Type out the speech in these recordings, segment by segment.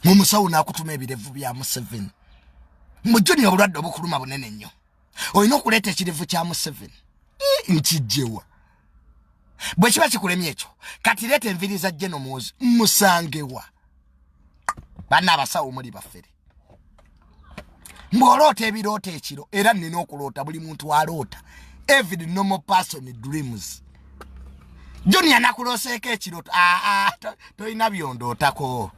mumusawo nakutuma ebirevu bya museveni mujuni obulwadde obukuluma bunene nnyo olina okuleeta ekirevu kya museveni nkijjewa bwe kiba kikulemye ekyo kati leeta enviri za jeno muwozi musangewa banna abasawo muli bafere mbwoloota ebiroota ekiro era nina okuloota buli muntu aloota every normal person dreams junior nakulooseeko ekiroto aa ah, ah, tolina byondootako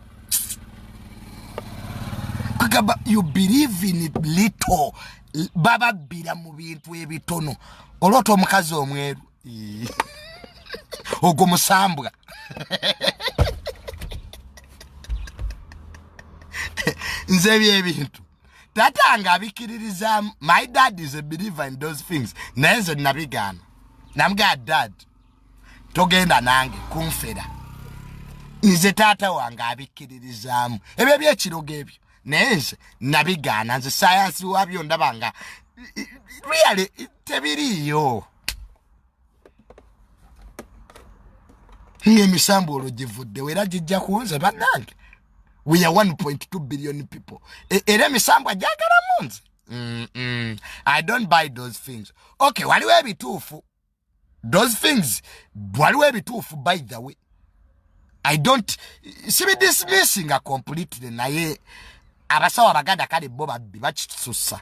kugamba you believe in little bababbira mu bintu ebitono oloota omukazi omweru ogwo musambwa nze ebyo ebintu tata nga abikiririzamu my dad is a believer in those things naye nze nabigaana namugaa dad togenda nange kunfera nze taata wange abikkiririzaamu ebyo byekirogo ebyo naye nze nabigaana nze sayansi wabyo ndaba nga really tebiriiyo ng'emisambu olwo givuddewo era gijja kuwonze bannange we are 1.2 billion people e, era emisambu agyagalamu nze i don't buy those things okay waliwo ebituufu those things waliwo ebituufu by the way i don't sibidismissinga completely naye abasawo abaganda kale bo babbi bakitusussa